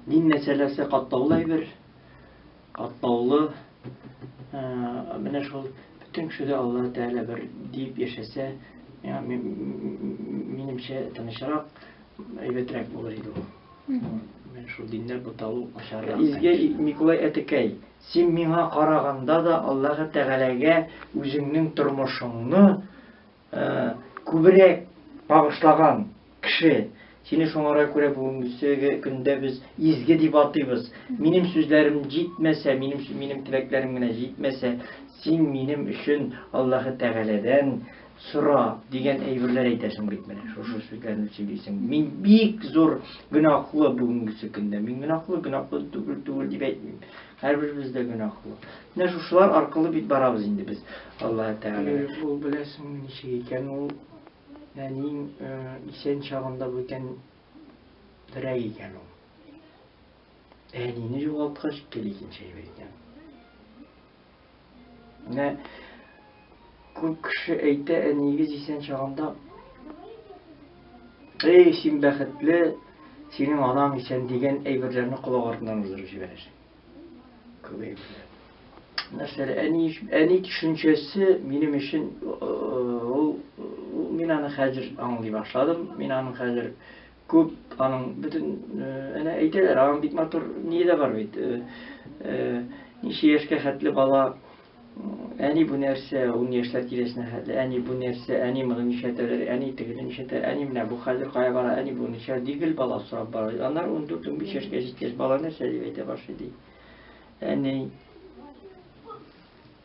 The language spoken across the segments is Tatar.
Дин мәсьәләсе катлаулы әйбер, катлаулы. Ә, менә шул бөтен кеше дә Алла Тәгалә бер дип яшәсә, миңа минемчә тынычрак, әйбәтрәк булыр иде ул. Менә шул диннәр буталу начаррак. Изге Микулай әтекәй. Син миңа караганда да Аллаһы Тәгаләгә үзеңнең тормышыңны күбрәк багышлаган кеше. Сине шуңара күрә бүгенгесеге көндә без изге дип атыйбыз. Минем сүзләрем җитмәсә, минем минем теләкләрем генә җитмәсә, син минем өчен Аллаһы Тәгаләдән сора дигән әйберләр әйтәсең бит менә шушы сүзләрне сөйлисең мин бик зур гөнаһлы бүгенгесе көндә мин гөнаһлы гөнаһлы түгел түгел дип әйтмим һәрберебез дә гөнаһлы менә шушылар аркылы бит барабыз инде без алла тәгалә ул беләсең ничек икән ул нәниң э, исән чагында бүтән берәй икән ул әнине югалткач кел икенче икән Менә күп кеше әйтә, әниегез исән чагында, эй, син бәхетле, синең анаң исән дигән әйберләрне колак артыннан уздырып җибәрәсең. Күп әйберләр. Нәрсәле, әни, әни төшенчәсе минем өчен ул, мин аны хәзер аңлый башладым, мин аның хәзер Күп аның бөтен әнә әйтәләр, аның бик матур ние дә бар бит. Ничә яшькә хәтле бала әни бу нәрсә, ун яшьләр тирәсенә хәтле, әни бу нәрсә, әни моны нишәтәләр, әни тегене нишәтәләр, әни менә бу хәзер кая бара, әни бу ничә, ди гел бала сорап бара. Аннар 14-15 яшькә җиткәч, бала нәрсә дип әйтә башлый ди. Әни.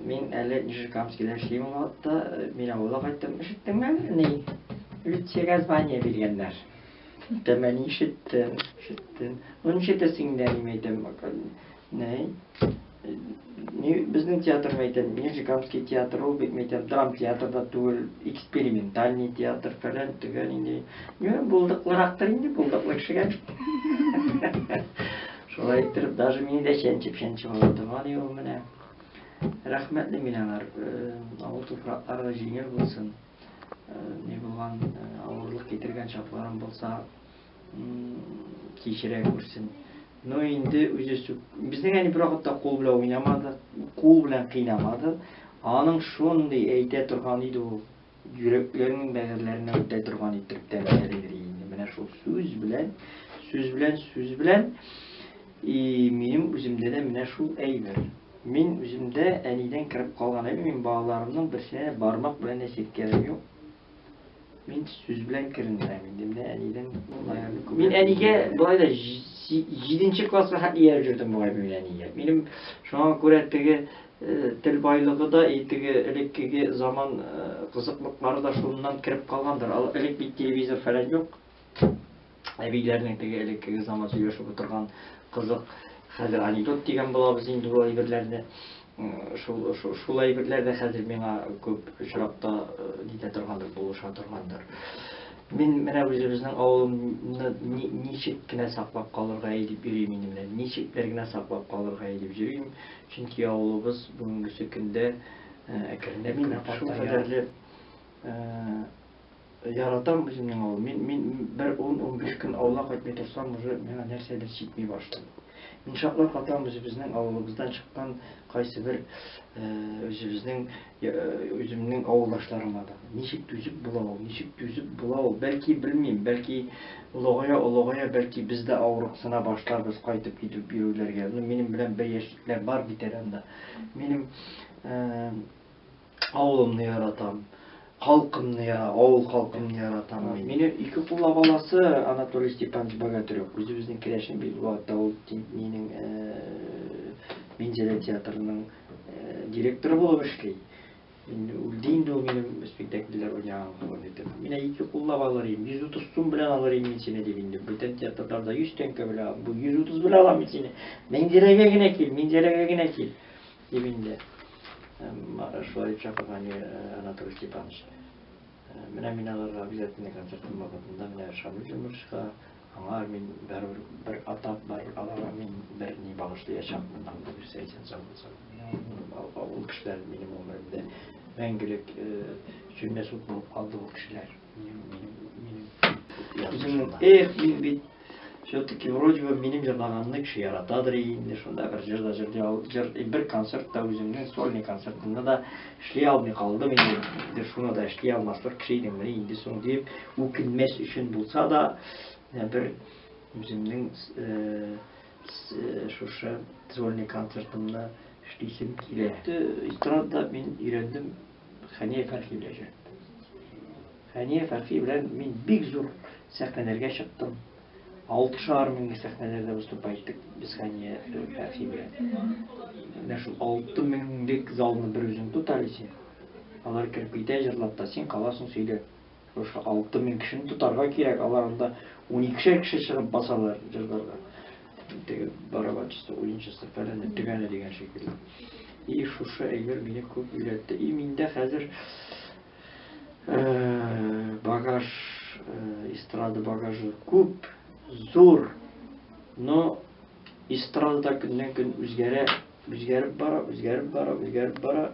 Мин әле Нижекамскида эшлим ул вакытта, мин авылга кайттым. Ишеттеңме әле, ни? Люциягә звание биргәннәр. Дәмә ни ишеттем, ишеттем. Ну, ишетәсең дә, мин әйтәм, ни? Ни, безнең театр, мин әйтәм, Нижекамский театры ул бит, мин әйтәм, драм театры да түгел, экспериментальный театр, фәлән, төгән инде. Ни, булдыклырактыр инде, булдыклы кешегә бит. Шулай иттереп, даже мине дә чәнчеп-чәнчеп алды. Бар ел менә. Рәхмәтле мин аңар. Авыл туфраклары җиңел булсын. Ни булган авырлык китергән чакларым булса, кичерә күрсен. Но инде үзе сүк. Безнең әни бер вакытта кул белән уйнамады, кул белән кыйнамады. Аның шундый әйтә торган иде ул. Йөрәкләрнең бәгырьләренә үтә торган итеп тәмәкәлидер инде. Менә шул сүз белән, сүз белән, сүз белән. И минем үземдә дә менә шул әйбер. Мин үземдә әнидән кереп калган әйбер, мин балаларымның берсенә бармак белән дә селкәвем юк. Мин сүз белән керендерәм инде. Менә әнидән Мин әнигә болай да 7 класска хәтле ияреп җөрдем бугай мин әнигә. Минем шуңа күрә теге Тел байлыгы да, и теге элеккеге заман кызыклыклары да шуннан кереп калгандыр. Элек бит телевизор фәлән юк. Әбиләрнең теге элеккеге заман сөйләшеп утырган кызык хәзер анекдот дигән булабыз инде бу әйберләрне. Шул шул әйберләр дә хәзер миңа күп очракта нитә торгандыр, булыша торгандыр. Мин менә үзебезнең авылымны ничек кенә саклап калырга әйтеп йөрим инде менә. Ничек бер генә саклап калырга әйтеп йөрим. Чөнки авылыбыз бүгенгесе көндә әкренләп генә картая. Шул кадәрле яратам үземнең авыл. Мин, мин бер 10-15 көн авылга кайтмый торсам, уже миңа нәрсәдер җитми башлый. Мин шатлап катам үзебезнең авылыбыздан чыккан кайсы бер э, үзебезнең Үземнең авылдашларыма да. Ничек түзеп була ул, ничек түзеп була ул? Бәлки, белмим, бәлки олыгая-олыгая, бәлки без дә авырыксына башларбыз, кайтып китеп йөрүләргә. Ну, минем белән бер яшьлекләр бар бит әле анда. Минем авылымны яратам, халкымны яратам, авыл халкымны яратам. Мине ике куллап аласы Анатолий Степанович Богатырев. Үзебезнең керәшен бит, ул минем Минзәлә театрының директор булып эшли. Инде үлде инде ул минем спектакльләр уйнаган кулым итеп. Мин ике куллап алыр идем. 130 сум белән алыр идем мин сине дип инде. Бүтән театрда 100 тәңкә белән, бу 130 белән алам мин сине. Минзәрәгә генә кил, Минзәрәгә генә кил. Дип инде. Шулай дип чакырган Анатолий Степанович. Менә мин аларга обязательно концертым вакытында менә Шамил Юнышка, аңа мин бер бер атап бар, аларга мин бер ни багышлаячакмын, аңа бирсә исән сау булса. Ул кешеләр минем гомеремдә мәңгелек сүнмәс ут булып калды ул кешеләр. Минем, минем, минем. Эх, мин бит Все-таки вроде бы минем җырлаганны кеше яратадыр инде, шунда бер җыр да җыр, җыр, бер концерт та үземнең сольный концертымны да эшли алмый калдым инде, шуны да эшли алмаслык кеше идем мени инде соң дип, үкенмәс өчен булса да, э, бер үземнең э, э, шушы сольный концертымны эшлисем килә. Эстрада мин өйрәндем Хәния Фәрхи белән Хәния Фәрхи белән мин бик зур сәхнәләргә чыктым. Алты шагар меңле сәхнәләрдә выступа иттек без Хәния Фәрхи белән. Менә шул алты меңлек залны бер үзең тот әле син. Алар кереп китә җырлап та, син каласың сөйләп. Шушы алты мең кешене тотарга кирәк, алар анда уникешәр кеше чыгып басалар җырларга. Теге барабанчысы, уенчысы, фәләне, төгәне дигән шикелле. И шушы әйбер мине күп өйрәтте. И миндә хәзер Багаж, эстрада багажы күп, зур. Но эстрада да көннән көн үзгәрә, үзгәреп бара, үзгәреп бара, үзгәреп бара.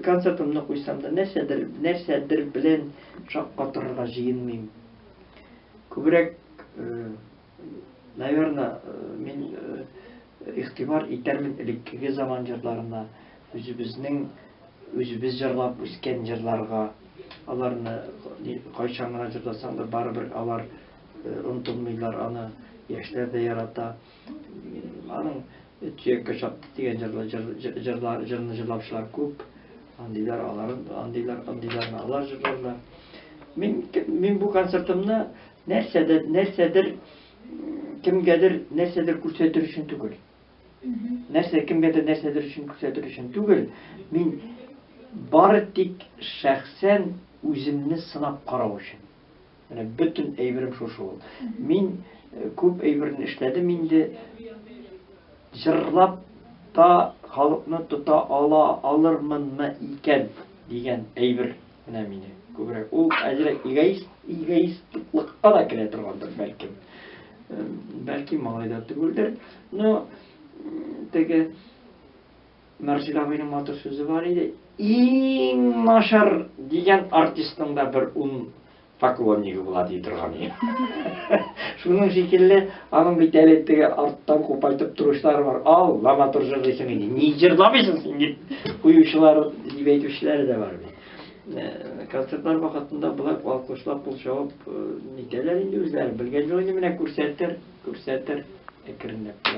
Концертымны куйсам да нәрсәдер, нәрсәдер белән шаккатырырга җыенмыйм. Күбрәк Наверное, мин игътибар итәрмен элеккеге заман җырларына, үзебезнең үзебез җырлап үскән җырларга. Аларны кайчан гына җырласаң да барыбер алар онытылмыйлар аны, яшьләр дә ярата. Аның Төяккә чапты дигән җырлы җырлар җырны җырлаучылар күп. Андыйлар алар, андыйлар, андыйларны алар җырларлар. Мин мин бу концертымны Нәрсәдер, нәрсәдер, кемгәдер нәрсәдер күрсәтер өчен түгел. Нәрсә кемгәдер нәрсәдер өчен күрсәтер өчен түгел. Мин бары тик шәхсән үземне сынап карау өчен. Менә бөтен әйберем шушы ул. Мин э, күп әйберне эшләдем инде. Җырлап та халыкны тота ала алырмынмы икән дигән әйбер Менә мине күбрәк. Ул әзрәк эгоист, эгоистлыкка да керә торгандыр, бәлки. Бәлки малай да түгелдер. Но теге Мәрҗилә абыйның матур сүзе бар иде. Иң нашар дигән артистың да бер ун Поклоннигы була ди торган иде. Шуның шикелле, аның бит әле теге арттан купайтып торучылары бар. Ал, лама матур җырлыйсың инде. Ни җырламыйсың син дип куючылар дип әйтүчеләре дә бар бит. Э, концертлар вакытында болар алкышлап кул чабып э, нитәләр инде үзләре. Белгән җылы инде менә күрсәтер, күрсәтер әкренләп.